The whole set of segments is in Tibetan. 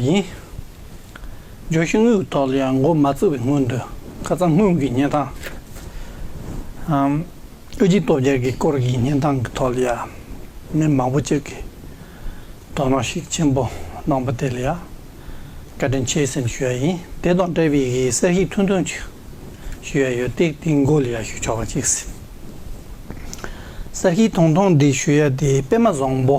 ཡིན། ལྗོན་ཤིང་དངུལ་ཐོག་ལ་ཡང་མགོ་མ་བཙུགས་པའི་སྔོན་དུ་ཁ་རྩང་སྔོན་གྱི་གཉན་ཐང་ཨམ་ཨུ་ཅིའི་སྟོབས་རྒྱལ་གྱི་སྐོར་གྱི་གཉན་ཐང་གི་ཐོག་ལ་ཡང་མི་མང་པོ་ཅིག་གིས་དོ་སྣང་ཤུགས་ཆེན་པོ་གནང་པ་དེ་ལ་ཡང་བཀའ་དྲིན་ཆེ་སེམས་ཞུ་བ་ཡིན། དེ་དང་འབྲེལ་བའི་གསལ་བཤད་ཐུང་ཐུང་ཅིག་ཞུ་བ་ཡོད་དེ་དེའི་མགོ་ལ་ཡང་ཞུ་ཆོག་པ་ཅིག་ཟིན། གསལ་བཤད་ཐུང་ཐུང་འདི་ཞུ་ཡ་དེ་པད་མ་བཟང་པོ་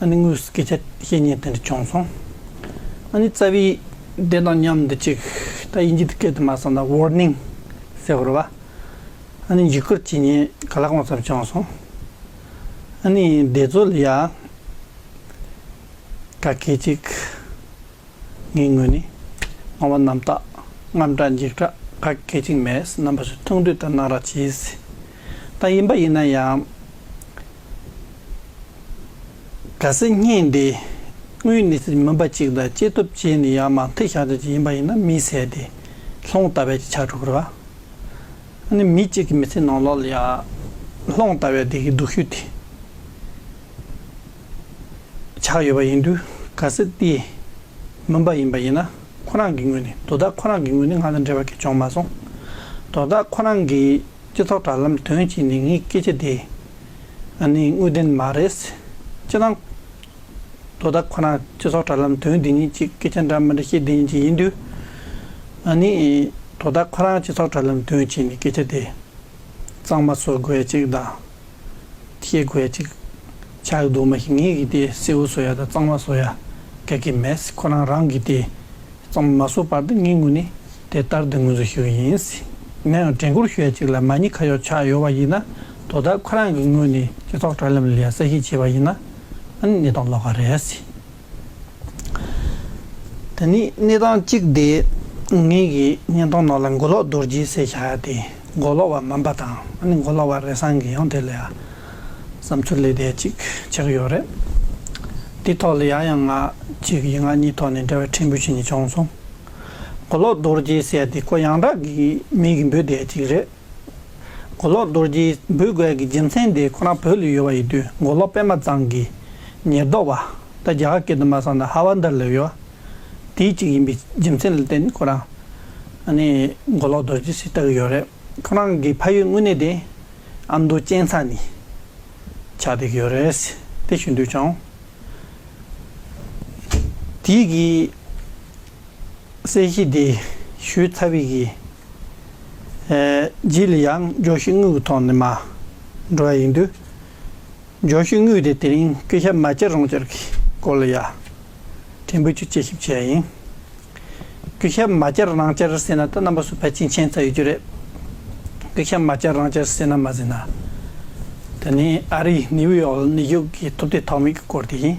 ཨ་ནི་དངོས་སུ་སྐད་ཆ་བཤད་ཉེན་དེ་འདྲ་བྱུང་སོང། ཨ་ནི་རྩ་བའི་དེ་དང་མཉམ་འདི་གཅིག་ད་དབྱིན་ཇི་དུ་སྐད་དུ་མ་གསང་ད Warning ཟེར་བར་བ། ཨ་ནི་འཇིགས་སྐུལ་བྱེད་ཉེན་ག་ལ་གང་ཙམ་བྱུང་སོང། ཨ་ནི་བདེ་རྩོལ་ཡ། ག་གེ་ཅིག། ངའི་ངོས་ནས་སྣང་བ་རྣམ་དག་རྔམ་དྲག་འཇིགས་སྐྲག་ག་གེ་ཅིག་མེད་རྣམ་པ་ཞིག་མཐོང་དུས་ལྟར་སྣང་རག་བྱེད་སྲིད། ད་ཡིན་པ་ཡིན་ན་ཡང། ག་ཟེ་སྙིང་འདི་དངུལ་ནི་མུན་པ་ཅིག་དང་སྐྱེས་སྟོབས་ཅན་ནི་ཡང་མ་མཐིལ་ཞགས་ཅན་ཅིག་ཡིན་པ་ཡིན་ན་མི་ཟེར་ཏེ། ལྷོང་ལྟ་བས་ཅི་ཆགས་དྲུག་ར། ཨ་ནི་མི་གཅིག་གི་མི་ཚེ་ནང་ལོགས་ལ་ཡང་ལྷོང་ལྟ་བས་དེ་གི་སྡུག་ཤོས་དེ་ཆགས་ཡོད་པ་ཡིན་དུས་ག་ཟེ་དེ་མུན་པ་ཡིན་པ་ཡིན་ན་ཁོ་རང་གི་དངུལ་ནི་དོ་བདག་ཁོ་རང་གི་དངུལ་ནི་ང་དང་འབྲེལ་བ་གལ་ཆུང་མ་སོང། དོ་བདག་ཁོ་རང་གི། སྤྱི་ཚོགས་དྲ་ལམ་དོན་གྱི་ནི་ངའི་སྐད་ཆ་དེ་ནི་དངོས་བདེན་མ་རེད། སྤྱི་དང། དོ་བདག་ཁོ་ན་སྤྱི་ཚོགས་དྲ་ལམ་དོན་དེ་གཉིས་ཀྱི་སྐད་ཆ་འདྲ་མི་འདྲ་ཤེས་ལྡན་གྱི་ཡིན་དུས། ང་ནི་དོ་བདག་ཁོ་རང་སྤྱི་ཚོགས་དྲ་ལམ་དོན་གྱི་ནི་སྐད་ཆ་དེ་གཙང་མ་བཟོ་དགོས་ཅིག་དང། ཤེས་དགོས་ཅིག། ཆགས་རྡུགས་མ་ཞིག་ངེད་ཀྱིས་དེ་གསེར་བུ་བཟོ་ཡ་དང་གཙང་མ་བཟོ་ཡ་ག་གི་མེད། ཁོ་རང་རང་གིས་དེ་གཙང་མ་མ་བཟོ་བར་དུ་ངེད་ངུ་ནས་དེ་ལྟར་དུ་ངུ་འཛུལ་ཞུ་གི་ཡིན། ང་ཡང་དྲན་སྐུར་ཞོད་ཅིག་ལ་མ་ཉེས་ཁ་ཡོག་ཆགས་ཡོད་པ་ཡིན་ན་དོ་བདག་ཁོ་རང་གི་ངོས་ནས་སྤྱི་ཚོགས་དྲ་ལམ་ལས་གསལ་བཤད་བྱས་པ་ཡིན་ན་ནི་དང་ལོག་ག་རེད། ད་ནི་གནས་སྟངས་གཅིག་དེ་ངེད་ཀྱིས་བརྙན་ཐུང་ནང་ལ་མགོ་ལོག་རྡོ་རྗེའི་སྲས་བྱ་ཡ་དེ་མགོ་ལོག་བ་མམ་པ་དང་ཨ་ནི་མགོ་ལོག་བ་རེ་ཟང་གི་ཡང་དེ་ལ་ཡ་བསམ་ཚུལ་ལས་དེ་ཅིག་བྱེད་ཀྱི་ཡོད་རེད། དེའི་ཐོག་ལ་ཡ་ཡང་ང་གཅིག་གིས་ང་གཉིས་ཐོག་ནས་འབྲེལ་བའི་ཕྲན་བུ་ཞིག་ནི་བྱུང་སོང། མགོ་ལོག་རྡོ་རྗེའི་སྲས་དེ་ཀོ་ཡང་དག་གི་མིང་གིས་འབོད་བསྡད་ཅིག་རེད། མགོ་ལོག་རྡོ་རྗེའི་འབོད་སྐུལ་གྱི་རྒྱུ་མཚན་དེ་ཁོ་རང་བོད་ལ་ཡོད་པ་ཡིན་དུས་མགོ་ལོག་པད་མ་ཚང་གི་ཉེར་བསྡོགས་པ་དང་རྒྱ་གར་སྐད་དུ་མ་གསང་ན་ཧ་བཱན་དར་ལ་ཡོད་པ་དེའི་གཅིག་ཡིན་པའི་རྒྱུ་མཚན་ལ་བརྟེན་ནས་ཁོ་རང་མགོ་ལོག་རྡོ་རྗེ་ཞེས་བཏགས་ཡོད་རེད། ཁོ་རང་གི་ཕ་ཡུལ་དངོས་གནས་དེ་ཨ་མདོ་གཅན་ཚ་ནི་ཆགས་འདེགས་ཡོད་རེད་དེ་ཞུ་འདོད་བྱུང། དེའི་གིས། གསལ་བྱེད་འདི་ཞུས་ཚ་བིག་གིས། རྗེས་ལ་ཡང་ཇོ་ཤི་དངུལ་གྱི་ཐོག་ནས་མ་འགྲོ་བ་ཡིན་དུས། ཇོ་ཤི་དངུལ་དེ་དེ་རིང་སྐུ་ཞབས་མ་ཅར་རོང་ཅར་གྱི་སྐོར་ལ་ཡ་དྲན་འབུལ་རྒྱུ་དཔྱད་ཞིབ་བྱས་ཡིན། སྐུ་ཞབས་མ་ཅར་རང་ཅར་ཟེར་ན་ད་རྣམ་པ་སུ་ཕལ་ཆེན་མཁྱེན་ཚར་ཡོད་རྒྱུ་རེད། སྐུ་ཞབས་མ་ཅར་རང་ཅར་ཟེར་ན་མ་ཟེར་ན། དེ་ནི་ཨ་རིའི་ནིའུ་ཡོག་ནི་ཡུག་གི་ཐུབ་བསྟན་ཐོག་མེད་ཀྱི་སྐོར་དེ་ཡིན།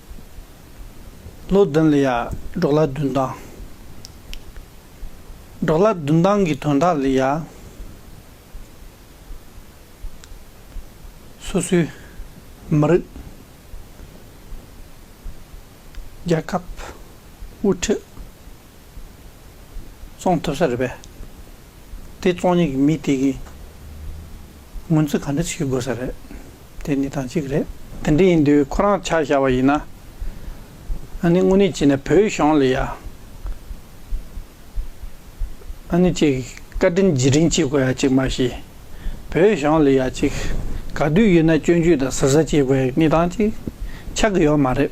ལོ་བདུན་ལ་ཡར་འབྲོག་ལ་བདུན་དང། འབྲོག་ལ་བདུན་དང་གི་དོན་དག་ལ་ཡར། སོ་སོའི་མི་རིགས། རྒྱལ་ཁབ། དབུ་ཁྲིད། བཙོང་ཐུབ་ས་རེད་པས། དེ་བཙོང་མྱོང་གི་མི་དེ་གིས་ངོ་ཚུལ་ག་འདྲ་བྱེད་དགོས་ས་རེད། དེ་ནི་དང་གཅིག་རེད། དེ་འདྲ་ཡིན་དུས་ཁོ་རང་ཆགས་བཞག་པ་ཡིན་ན། ཨ་ནི་དངོས་གནས་བྱས་ན་བོད་གཞུང་ལ་ཡ། ཨ་ནི་ཅིག་བཀའ་དྲིན་རྗེས་དྲིན་བྱེད་དགོས་ཡ་ཅིག་མ་ཤེས། བོད་གཞུང་ལ་ཡ་ཅིག་ག་དུས་ཡོད་ན་སྐྱོན་བརྗོད་དང་ཟུར་ཟ་བྱེད་དགོས་ཡ་གཉིས་དང་གཅིག་ཆགས་ཀྱི་ཡོད་མ་རེད།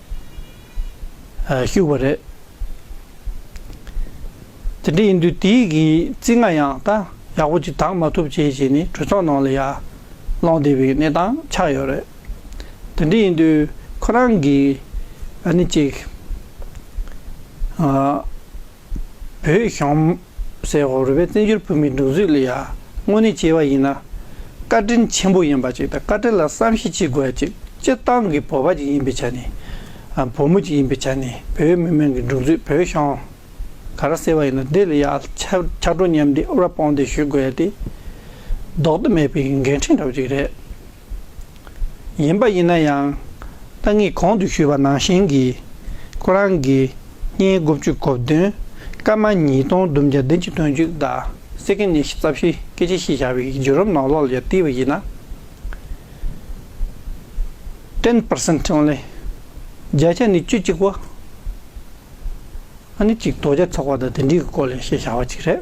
བཞུགས་པ་རེད། དེ་འདྲ་ཡིན་དུས་དེ་ཡི་གི་རྩིས་ང་ཡང་ད་ཡག་པོ་ཅིག་དྭངས་མ་ཐུབ་བྱས་བྱས་ནས་གྲོས་ཚོགས་ནང་ལ་ཡར་སློང་བསྡད་པའི་གནས་སྟངས་ཆགས་ཡོད་རེད། དེ་འདྲ་ཡིན་དུས་ཁོ་རང་གིས་ཨ་ནི་ཅིག། བོད་གཞུང་སའི་འོག་རུལ་པའི་བཙན་བྱོལ་བོད་མིའི་འདུག་ཚུལ་ལ་ཡང་དངོས་གནས་དཔྱད་པ་ཡིན་ན། བཀའ་དྲིན་ཆེན་པོ་ཡིན་པ་ཅིག་དང་བཀའ་དྲིན་ལ་བསམ་ཤེས་བྱེད་དགོས་པ་ཅིག་སྤྱིར་བཏང་གི་བོད་པ་ཅིག་ཡིན་པའི་ཆ་ནས། བོད་མོ་ཅིག་ཡིན་པའི་ཆ་ནས་བོད་མི་དམངས་ཀྱི་འདུག་ཚུལ་བོད་གཞུང་ག་རང་གསལ་བ་ཡིན་ན་དེ་ལ་ཡང་ཕྱག་སྤྲོ་མཉམ་འདེགས་དབུ་ར་དཔང་འདེགས་ཞུ་དགོས་པ་དེ་ལྡོག་ཏུ་མེད་པའི་འགན་འཁྲི་འདྲ་བོ་ཅིག་རེད། ཡིན་པ་ཡིན་ན་ཡང། ཏང་གིས་གོང་དུ་ཞུས་པ་ནང་བཞིན་གྱིས། ཁོ་རང་གིས་བསྙེན་དགུ་བཅུ་གོ་བདུན། སྐར་མ་ཉིས་སྟོང་བདུན་བརྒྱ་བདུན་ཅུ་དོན་བཅུ་དང་སེ་ཀེན་ཉེར་བཞི་རྩ་བཞི་སྐད་ཆ་བཤད་བཞག་པའི་བརྒྱུད་རིམ་ནང་ལོགས་ལས་བརྟས་པ་ཡིན་ན། ten percent only། བརྒྱ་ཆ་ནི་བཅུ་གཅིག་པོ། ཨ་ནི་གཅིག་དོ་བརྒྱ་ཚོགས་པ་དང་དེ་འདྲའི་སྐོར་ལས་བཤད་བཞག་པ་ཅིག་རེད།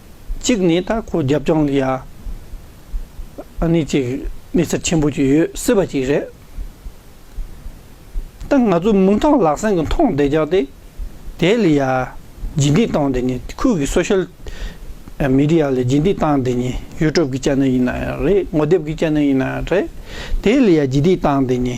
གཅིག་ནས་ད་ཁོ་རྒྱབ་ལྗོངས་ལ་ཡ་ཨ་ནི་ཅིག་གནས་ཚུལ་ཆེན་པོ་ཅིག་ཡོད་སྲིད་པ་ཅིག་རེད། ད་ང་ཚོའི་མིང་ཐང་ལག་སེང་གི་མཐོང་བདེ་རྒྱག་བདེ་དེ་ལ་ཡ་རྗེས་འདེད་བཏང་བདེ་ནི་ཁུལ་གྱི་སོ་ཤེལ་མི་རི་ཡ་ལ་རྗེས་འདེད་བཏང་བདེ་ནི་ཡུལ་གྲུབ་ཀྱི་ཅན་ནི་ཡིན་ན་ཡང་རེད་ངོ་དེབ་ཀྱི་ཅན་ནི་ཡིན་ན་ཡང་རེད་དེ་ལ་ཡ་རྗེས་འདེད་བཏང་བདེ་ནི།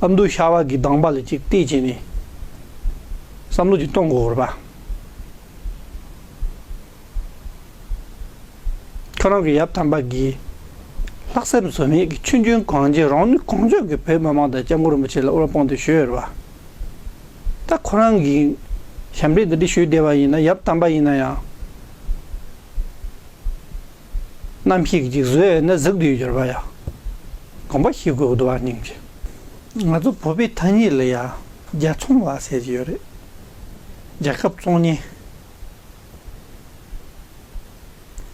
ཨ་མདོའི་ཤ་བ་གི་གདངས་པ་ལ་ཅིག་བལྟས་བྱས་ནས་བསམ་བློ་ཅིག་གཏོང་དགོས་བར་པ། ཁྱོད་རང་གི་ཡབ་དམ་པ་གིས་ལྷག་སེམས་ཟོལ་མེད་ཀྱི་ཆུ་རྒྱུན་གང་རྗེས་རང་ནུས་གང་ལྕོགས་ཀྱིས་བོད་མི་མང་དང་སྐྱབས་མགོན་རིན་པོ་ཆེ་ལ་དབུ་རུ་དཔུང་འདེགས་ཞུས་བར་པ། ད་ཁོ་རང་གིས་ཞབས་འདེགས་འདི་འདྲ་ཞུས་བསྡད་པ་ཡིན་ན་ཡབ་དམ་པ་ཡིན་ན་ཡང། ནམ་ཞིག་འཇིག་བཟོད་ན་གཟུགས་འདུས་འགྱུར་བ་ཡང། དགོངས་པ་ཞི་གོས་བསྡུ་བར་སྙིང་རྗེ། ང་ཚོ་བོད་པའི་ཐ་སྙད་ལ་ཡང་རྒྱལ་ཚོང་ལ་ཟེར་གྱི་ཡོད་རེད། རྒྱལ་ཁབ་བཙོང་ཉེན།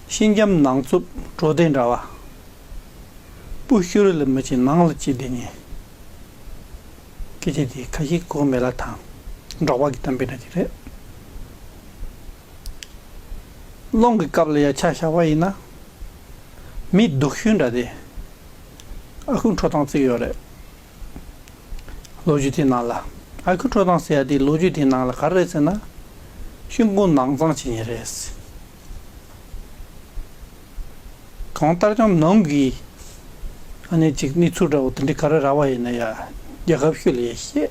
ཤིང་འཇམ་ནང་རྩུབ་བྲོ་ལྡན་འདྲ་བ། སྤུ་ཤུར་ལ་མི་བྱེད་ནང་ལ་བྱེད་བདེ་ཉེན། སྐད་ཆ་དེ་ཁ་ཞེ་གོ་མེད་ལ་དང་འགྲོགས་པ་གི་གཏམ་དཔེ་འདྲ་ཅིག་རེད། སློང་གི་སྐབས་ལ་ཡ་ཆ་བཞག་པ་ཡིན་ན། མི་སྡུག་ཤོས་འདྲ་སྟེ། ཨ་ཁུ་འཕྲོ་སྟངས་བརྩིགས་ཡོད་རེད། ལོ་རྒྱུས་དེའི་ནང་ལ། ཨ་ཁུ་འཕྲོ་སྟངས་ཟེར་ཡ་དེ་ལོ་རྒྱུས་དེའི་ནང་ལ་ག་རེ་རེད་ཟེར་ན། ཤིན་ཀུང་ནང་ཚང་བྱེད་ངེས་རེད། གང་ལྟར་ཀྱང་ནང་གི་ཨ་ནེ་ཅིག་གནས་ཚུལ་འདྲ་བོ་དེ་འདྲའི་ག་རེ་ར་བ་ཡིན་ན་ཡ་རྒྱལ་ཁབ་ཤོས་ལ་ཡ་ཤེས།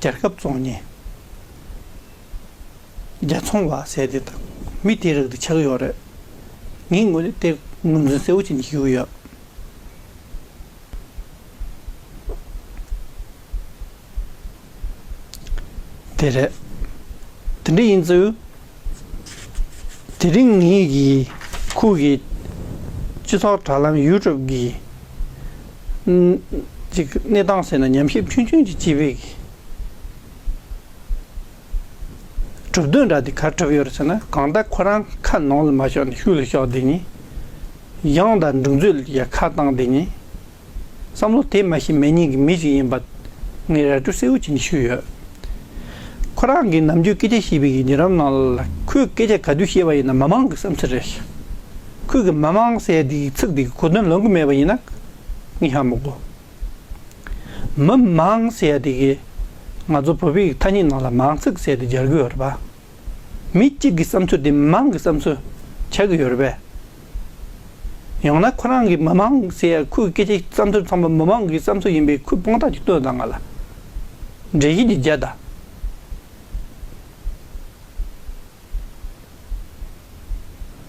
རྒྱལ་ཁབ་བཙོང་ཉེན་རྒྱལ་ཚོང་བ་ཟས་དེ་དང་མི་དེའི་རིགས་དེ་ཆགས་ཀྱི་ཡོད་རེད། ངས་ངོས་ལེན་སྟེ་ངོས་འཛིན་གསལ་བོ་བྱེད་ཀྱི་ཡོད། དེ་རེད། དེ་འདྲ་ཡིན་ཚུལ། དེ་རིང་ངེད་ཀྱི་ཁུལ་གྱི་སྤྱི་ཚོགས་དྲ་ལམ་ཡུལ་གྲུབ་ཀྱི་གནས་སྟངས་ཟེར་ན་ཉམས་ཞིབ་ཆུང་ཆུང་གི་སྤྱི་བའི་གྲུབ་དོན་འདྲ་དེ་ག་གྲུབ་ཡོད་ཟེར་ན་གང་ལྟར་ཁོ་རང་ཁ་ནང་ལ་མ་ཤོར་ནས་ཤུགས་ལ་ཤོར་དེ་ཉིན་ཡང་དང་འགྲུག་མཛོད་ལ་ཁ་བཏང་དེ་ཉིན། བསམ་བློ་དེ་མ་ཤི་མེད་སྙིང་གི་མི་ཞིག་ཡིན་པ་ངས་ར་སྤྲོད་གསལ་བོ་བྱེད་ནས་ཞུས་ཡོད། ཁོ་རང་གིས་ནམ་རྒྱུན་སྐད་ཆ་བཤད་པའི་ཉེ་རབས་ནང་ལ་ཁོས་སྐད་ཆ་ག་དུས་བཤད་པ་ཡིན་ན་མི་མང་གི་བསམ་ཚུལ་རེད། ཁོས་གི་མི་མང་ཟེར་དེ་གི་ཚིག་དེ་གི་གོ་དོན་ལོན་གི་མེད་པ་ཡིན་ན་ངས་ཧ་མི་གོ། མི་མང་ཟེར་དེ་གི་ང་ཚོ་བོད་པའི་ཐ་སྙད་ནང་ལ་མང་ཚིག་ཟེར་དེ་སྦྱར་གི་ཡོད་རེད་པ། མི་གཅིག་གི་བསམ་ཚུལ་དེ་མི་མང་གི་བསམ་ཚུལ་ཆགས་ཀྱི་ཡོད་རེད་པས། ཡང་ན་ཁོ་རང་གི་མི་མང་ཟེར་ཡ་ཁོའི་སྐད་ཆའི་བསམ་ཚུལ་ཚང་མ་མི་མང་གི་བསམ་ཚུལ་ཡིན་པའི་ཁོའི་དཔང་རྟགས་ཀྱི་སྟོན་ཟླ་ང་ལ་འགྲེལ་བཤད་ཀྱི་རྒྱལ་དང།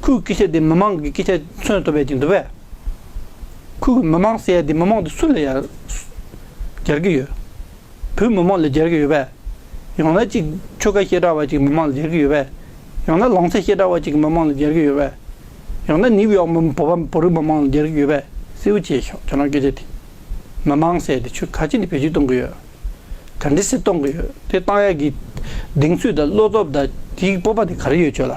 ཁོའི་སྐད་ཆ་དེ་མི་མང་གི་སྐད་ཆ་མཚོན་ཐུབ་པའི་ཅིག་འདུག་པས། ཁོས་མི་མང་ཟེར་ཡ་དེ་མི་མང་དེ་སུ་ལ་ཡ་སྦྱར་གི་ཡོད། བོད་མི་མང་ལ་སྦྱར་གི་ཡོད་པས། ཡང་ན་ཅིག་ཆོལ་ཁ་བཤད་གྲྭ་བ་ཅིག་མི་མང་ལ་སྦྱར་གི་ཡོད་པས། ཡང་ན་ལང་ཚ་བཤད་གྲྭ་བ་ཅིག་མི་མང་ལ་སྦྱར་གི་ཡོད་པས། ཡང་ན་ནིའུ་ཡོག་མི་བོད་པ་བོད་རིགས་མི་མང་ལ་སྦྱར་གི་ཡོད་པས། སེའུ་བྱེད་ཤོག་ཁྱོད་རང་སྐད་ཆ་དེ། མི་མང་ཟེར་དེ་ཆོལ་ཁ་ཅིག་ནི་བེད་སྤྱོད་གཏོང་གི་ཡོད། ག་འདྲི་སྲིད་གཏོང་གི་ཡོད་དེ་གཏང་ཡག་གི། གདེང་ཚོད་དང་བློ་སྟོབས་དང་དེའི་སྤོབས་པ་དེ་ག་རེ་ཡོད་ཁྱོད་ལ།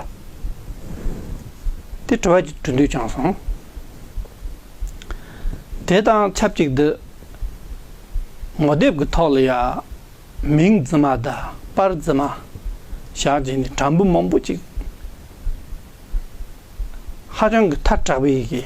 དེ་གྲོལ་བ་གྱི་གྲོལ་འདོད་ཅང་སོང། དེ་དང་ཆབས་ཅིག་ཏུ། ངོ་དེབ་ཀྱི་ཐོག་ལ་ཡང། མིང་རྫི་མ་དང་པར་རྫི་མ། བཞག་བྱས་ནས་དྲ་འབུ་མང་པོ་ཅིག། ཧ་ཅང་གི་ཐལ་དྲགས་པའི་ཡི་གེ།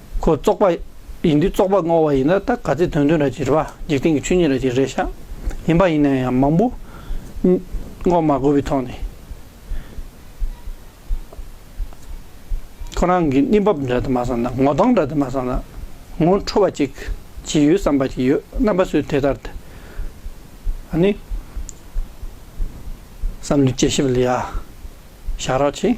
ཁོ་བཙོག་པ་ཡིན་དུས་བཙོག་པ་བསྔོ་བ་ཡིན་ན་ད་ག་ཚེ་དོན་དོན་ར་ཅིག་རེད་པ་འཇིག་རྟེན་གྱི་ཆོས་ཉིད་ར་ཅིག་རེད་ཤག་ཡིན་པ་ཡིན་ན་ཡང་མང་པོ་བསྔོ་མ་དགོས་པའི་ཐོག་ནས་ཁོ་རང་གི་གནས་བབ་འདྲ་དུ་མ་བསམ་ན་ངོ་གདོང་འདྲ་དུ་མ་བསམ་ན་ངོ་འཕྲོ་བ་ཅིག་ཅི་ཡོད་བསམ་པ་ཅིག་ཡོད་རྣམ་པ་སུས་དེ་ལྟར་དེ་ཨ་ནི་བསམ་བློའི་དཔྱད་ཞིབ་ལ་ཡ་ཞག་ར་ཆེ།